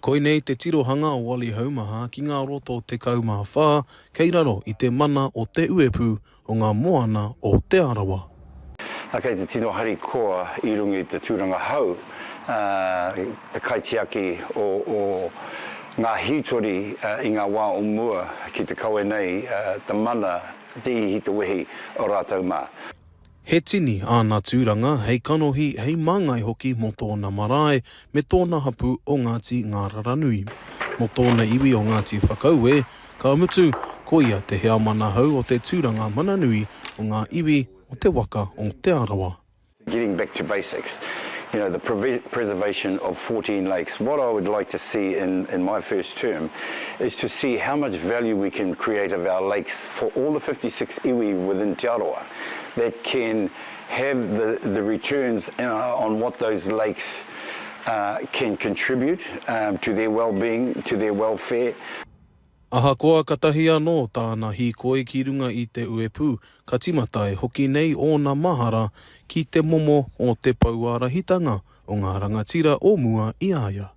Koinei te tirohanga o Wally Haumaha ki ngā roto 14 kei raro i te mana o Te Uepū o ngā Moana o Te Arawa. Kei te tino harikoa i runga i te tūranga hou te kaitiaki o ngā hītori i ngā wā o mua ki te kawe nei te mana, te ihi, te wehi o rātou mā. He tini āna tūranga hei kanohi, hei māngai hoki mō tōna marae me tōna hapū o Ngāti Ngāraranui. Mō tōna iwi o Ngāti Whakaue, ka mutu, ko ia te heamana hou o te tūranga mana nui o ngā iwi o te waka o Te Arawa. Getting back to basics, you know, the preservation of 14 lakes, what I would like to see in in my first term is to see how much value we can create of our lakes for all the 56 iwi within Te Arawa. that can have the the returns uh, on what those lakes uh, can contribute um, to their well-being, to their welfare. Ahakoa katahi anō tāna hīkoi ki runga i te uepū, ka timata e hoki nei ōna mahara ki te momo o te pouārahitanga o ngā rangatira o mua i a ia.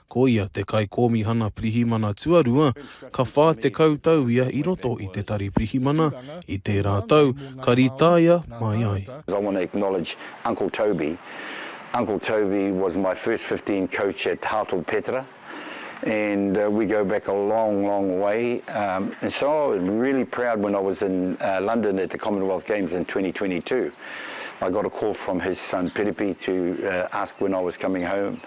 Ko ia te Kaikōmihana Pirihimana tuarua, ka 40 tau ia i roto i te Tari Pirihimana i tērā tau ka rītaia mai ai. I want to acknowledge Uncle Toby, Uncle Toby was my first fifteen coach at Hartlepool Petra and we go back a long long way and so I was really proud when I was in London at the Commonwealth Games in twenty twenty two I got a call from his son Piripi to ask when I was coming home.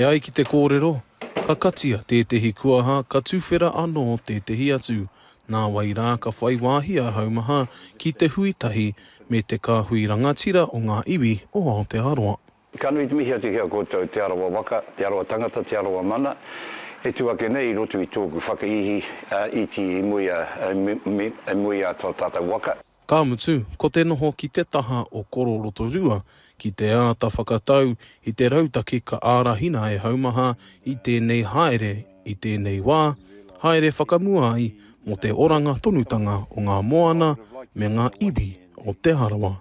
E ai ki te kōrero, ka katia tētehi kuaha ka tuwhera anō tētehi atu, nāwai rā ka whai wāhi a Haumaha ki te hui tahi me te kāhui rangatira o ngā iwi o Aotearoa. Ka nui te mihi atu ki a koutou Te Arawa waka, Te Arawa tangata, Te Arawa mana e tu ake nei i roto i tōku whakaihi iti i muia i muia to tatou waka. Ka mutu, ko te noho ki te taha o Koro Rotorua ki te āta whakatau i te rautaki ka ārahina e Haumaha i tēnei haere i tēnei wā, haere whakamua ai mō te oranga tonutanga o ngā moana me ngā iwi o Te Arawa.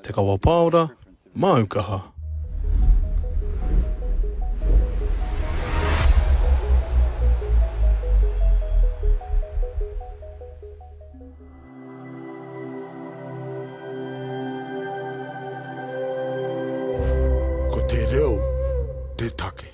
Te Kawa Paora, Māu Kaha. Ko te reo te take.